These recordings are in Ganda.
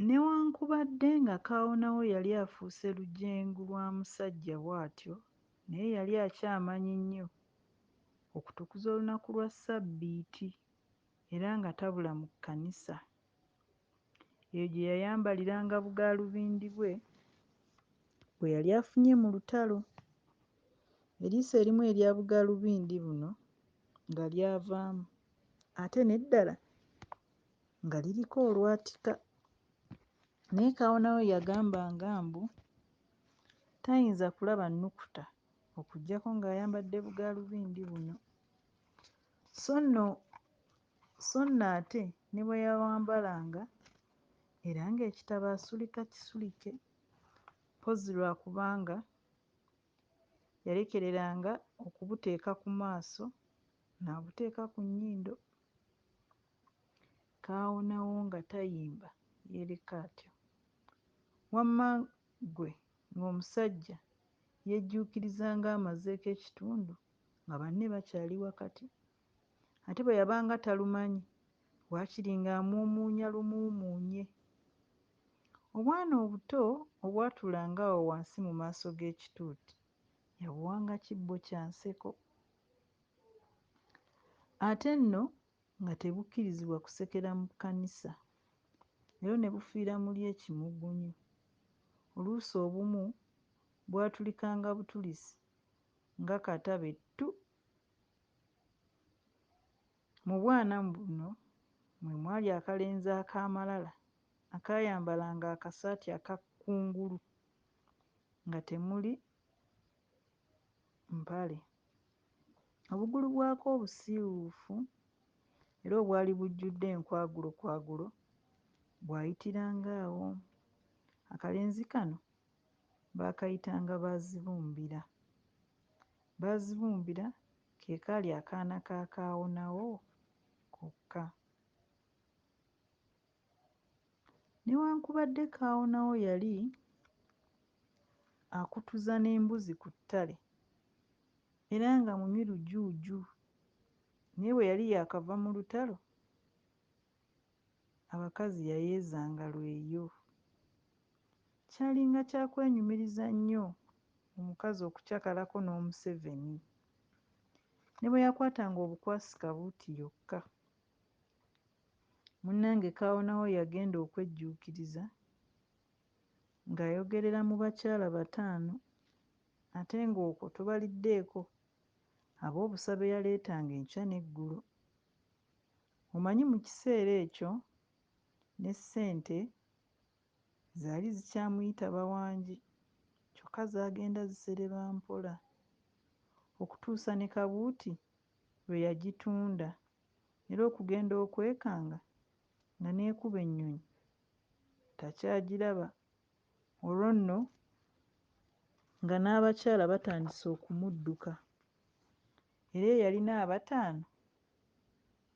Newankubadde nga kaawonawo yali afuuse lujengu lwa musajja bw'atyo, naye yali akyamanyi nnyo okutukuza olunaku lwa Ssabbiiti era nga tabula mu kkanisa. Eyo gye yayambaliranga bugaalubindi bwe bwe yali afunye mu lutalo. Eriiso erimu erya bugaalubindi buno nga lyavaamu? ate n'eddala nga liriko olwatika naye kaawonawo yagambanga mbu tayinza kulaba nnukuta okuggyako ng'ayambadde bugaalubindi buno so nno so nno ate ne bwe yawambalanga era ng'ekitabo asulika kisulike mpozzi lwa kubanga yalekereranga okubuteeka ku maaso. n'abuteeka ku nnyindo, kaawonawo nga tayimba yeereka atyo. Wamma ggwe ng'omusajja yeejjuukiriza ng'amazeeko ekitundu nga banne bakyali wakati. Ate bwe yabanga talumanyi, waakiri ng'amuumuunya lumuumuunye. Obwana obuto obwatulanga awo wansi mu maaso g'ekituuti yabuwanga kibbo kya nseko Ate nno nga tebukkirizibwa kusekera mu kkanisa, leero ne bufiira muli ekimugunyu. Oluusi obumu bwatulikanga butulisi nga kata be ttu. Mu bwana buno mwe mwali akalenzi ak'amalala akaayambalanga akasaati aka kkungulu nga temuli. mpale. Obugulu bwako obusiiwuufu era obwali bujjudde enkwagulokwagulo bwayitiranga awo. Akalenzi kano baakayitanga Baazibumbira. Baazibumbira ke kaali akaana ka Kaawonawo kokka. Newankubadde Kaawonawo yali akutuza n'embuzi ku ttale era nga munywi lujuuju naye bwe yali yaakava mu lutalo, abakazi yayeezanga lweyo. Kyalinga kya kwenyumiriza nnyo omukazi okucakalako n'omuseveni. Ne bwe yakwatanga obukwasi kabuuti yokka, Munnange Kaawonawo yagenda okwejjuukiriza ng'ayogerera mu bakyala bataano ate ng'okwo tobaliddeeko ab'obusa be yaleetanga enkya n'eggulo. Omanyi mu kiseera ekyo ne ssente zaali zikyamuyita bawangi kyokka zaagenda zisereba mpola okutuusa ne kabuuti lwe yagitunda. era okugenda okwekanga nga n'ekuba ennyonyi takyagiraba olwo nno nga n'abakyala batandise okumudduka era eyalina abataano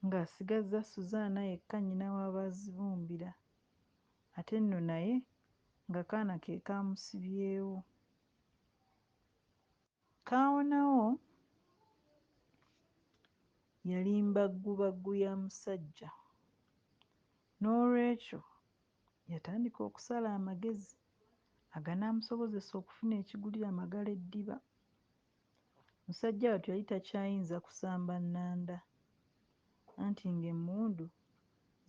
ng'asigazza Suzaana yekka nnyina wa Baazibumbira ate nno naye ng'akaana ke kaamusibyewo. Kaawonawo yali mbaggubaggu ya musajja. N'olwekyo yatandika okusala amagezi aganaamusobozesa okufuna ekigulira Magala eddiba. Musajja wattu yali takyayinza kusamba nnanda anti ng'emmundu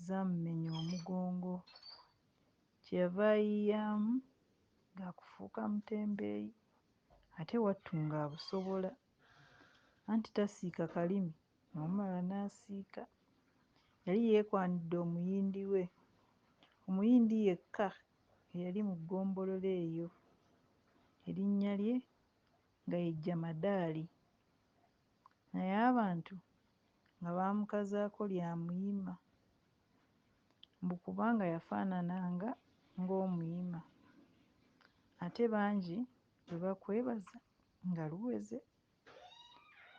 zaamumenya omugongo. Kyeyava ayiiyamu ga kufuuka mutembeeyi ate wattu ng'abusobola anti tasiika kalimi n'omala n'asiika. Yali yeekwanidde omuyindi we, Omuyindi yekka eyali mu ggombolola eyo, erinnya lye nga ye Jamadaali naye abantu nga baamukazaako lya Muyima. mbu kubanga yafaanananga ng'omuyima ate bangi bwe bakwebaza nga luweze.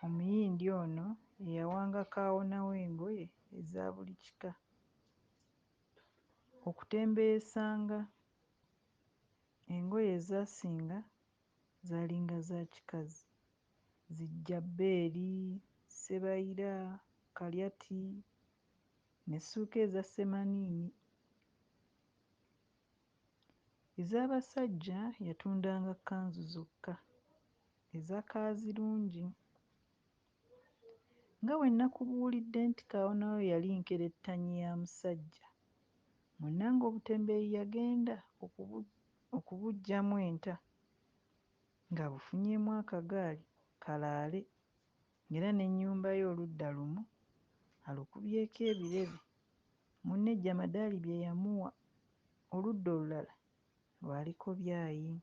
Omuyindi ono eyawanga kaawonawo engoye eza buli kika okutembeeyesanga engoye ezaasinga zaalinga za kikazi, zijjabbeeri, ssebayira, kalyati. n'essuuka eza semaniini. Ez'abasajja yatundanga kkanzu zokka eza kaazirungi. Nga bwe nakubuulidde nti kaawonawo yali nkerettanyi ya musajja, munnange obutembeeyi yagenda okubu okubuggyamu enta ng'abufunyeemu akagaali kalaale. Ng'era n'ennyumba ye oludda lumu alukubyeko ebirebe, munne Jamadali bye yamuwa oludda olulala lwaliko byayi.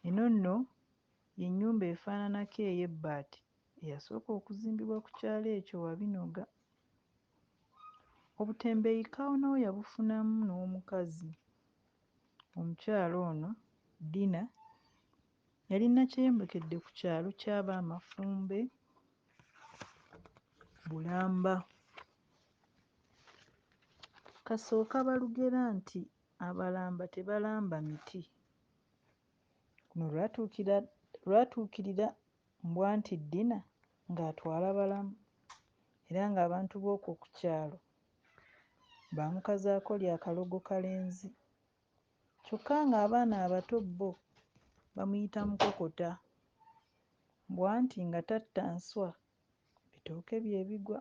Eno nno y'ennyumba efaananako ey'ebbaati eyasooka okuzimbibwa ku kyalo ekyo Wabinoga. Obutembeeyi Kawonawo yabufunamu n'omukazi. Omukyala ono Dina Yali Nakyeyombekede ku kyalo ky'aba Mafumbe, Bulamba. Kasooka balugera nti Abalamba tebalamba miti. Luno lwatuukira lwatuukirira Mbwanti Ddina ng'atwala balamu era ng'abantu b'okwo ku kyalo baamukazaako lya Kalogo Kalenzi. kyokka ng'abaana abato bbo bamuyita mukokota mbu anti nga tatta nswa ebitooke bye bigwa.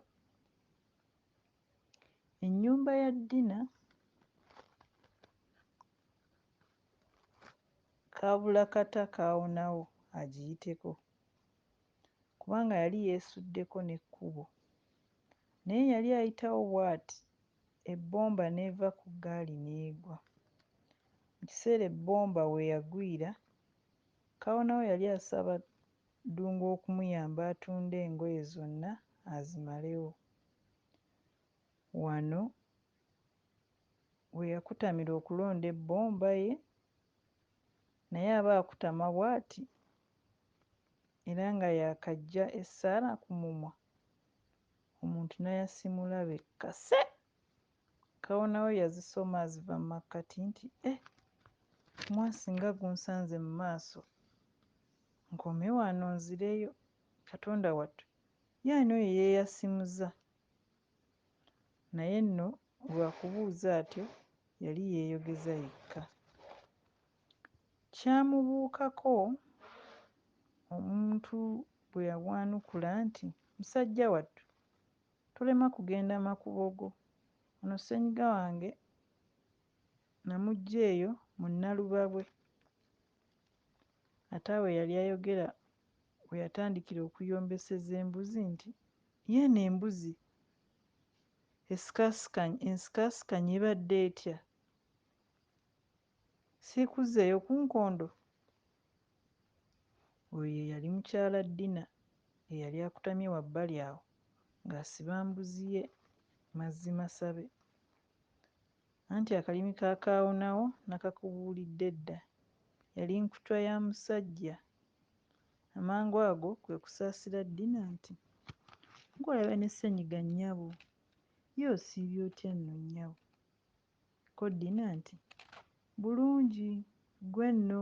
Ennyumba ya Dina kaabula kata kaawonawo agiyiteko kubanga yali yeesuddeko n'ekkubo naye yali ayitawo bwati. ebbomba n'eva ku ggaali n'egwa. Mu kiseera ebbomba we yagwira, Kawonawo yali asaba Ddungu okumuyamba atunde engoye zonna azimalewo. Wano we yakutamira okulonda ebbomba ye naye aba akutama bwati era nga yaakaggya essaala ku mumwa Omuntu nayasimula be kase kawonawo yazisoma aziva mu makkati nti eh omwasi nga gunsanze mu maaso nkome wano nzireyo Katonda wattu ye ani oyo eyeyasimuza naye nno lwakubuuza atyo yali yeyogeza yekka. Kyamubuukako omuntu bwe yabwanukula nti, Musajja wattu, tolema kugenda makubo go. Ono ssenyiga wange namuggya eyo mu Nalubabwe. Ate awo yali ayogera we yatandikira okuyombeseza embuzi nti, Yeeno embuzi esikasikanye ensikasikanye ebadde etya? Siikuzzeeyo ku nkondo? Oyo ye yali mukyala Dina eyali akutamye wabbali awo ng'asiba mbuzi ye mazzi masabe. Anti akalimi ka Kaawonawo nakakubuulidde dda. Yali nkutwa ya musajja. Amangu ago kwe kusaasira Dina nti. Ng'olabye ne Ssenyiga nnyabo. Ye osiibye otya nno nnyabo? Ko Dina nti, Bulungi, ggwe nno?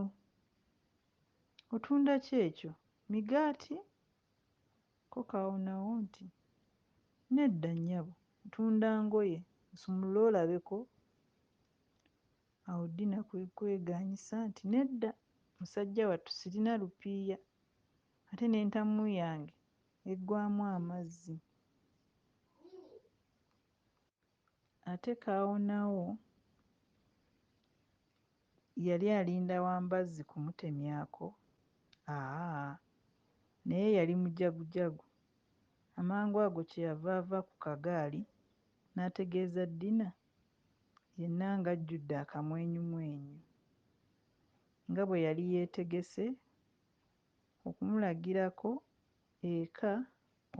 Otunda ki ekyo? Migaati? Ko Kaawonawo nti, Nedda, nnyabo, ntunda ngoye. Osumulule olabeko. Awo Dina kwe kwegaanyisa nti, Nedda, musajja wattu, sirina lupiiya, ate n'entamu yange eggwaamu amazzi. Ate Kaawonawo yali alinda wa mbazzi kumutemyako? Aaa! Naye yali mujagujagu. Amangu ago kye yava ava ku kagaali n'ategeeza Dina yenna ng'ajjudde akamwenyumwenyu nga bwe yali yeetegese okumulagirako eka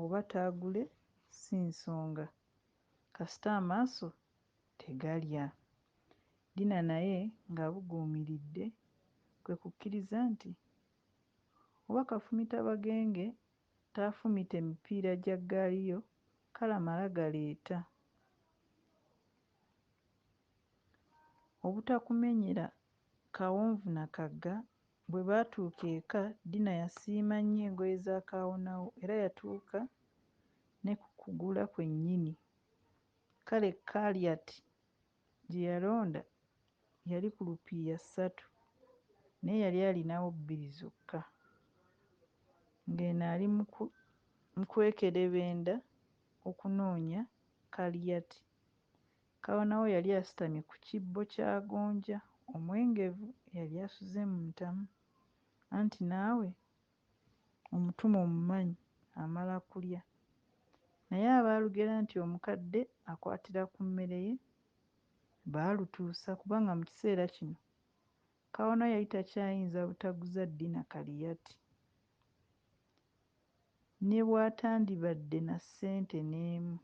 oba taagule si nsonga. kasita amaaso tegalya. Dina naye ng'abuguumiridde kwe kukkiriza nti, Oba kafumita bagenge taafumite mipiira gya ggaali yo kale amala galeeta. Obutakumenyera kawonvu na kagga Bwe baatuuka eka, Dina yasiima nnyo engoye za kaawonawo era yatuuka ne ku kugula kwennyini. Kale Kaliat gye yalonda yali ku lupiiya ssatu naye yali alinawo bbiri zokka. Ng'eno ali mu kwekerebenda okunoonya Kaliat, Kawonawo yali asitamye ku kibbo kya gonja omwengevu eyali asuze mu ntamu. Anti naawe omutume omumanyi amala kulya, naye abaalugera nti omukadde akwatira ku mmere ye baalutuusa kubanga mu kiseera kino Kawano yali takyayinza butaguza Dina Kaliyati ne bw'atandibadde na ssente n'emu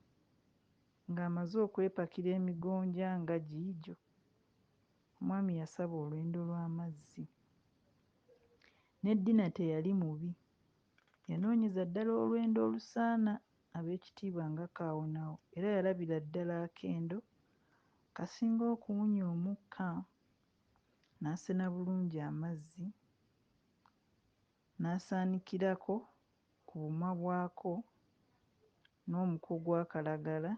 ng'amaze okwepakira emigonja nga giigyo Omwami yasaba olwendo lw'amazzi. Ne Dina teyali mubi. Yanoonyeza ddala olwendo olusaana ab'ekitiibwa nga Kaawonawo era yalabira ddala akendo kasinga okuwunya omukka, n'asena bulungi amazzi, n'asaanikirako ku bumwa bwako n'omuko gwa kalagala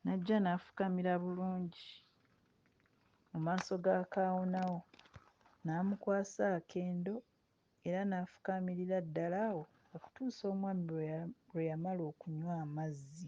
n'ajja n'afukamira bulungi mu maaso ga kaawonawo n'amukwasa akendo era n'afukaamirira ddala awo okutuusa omwami lwe ya lwe yamala okunywa amazzi.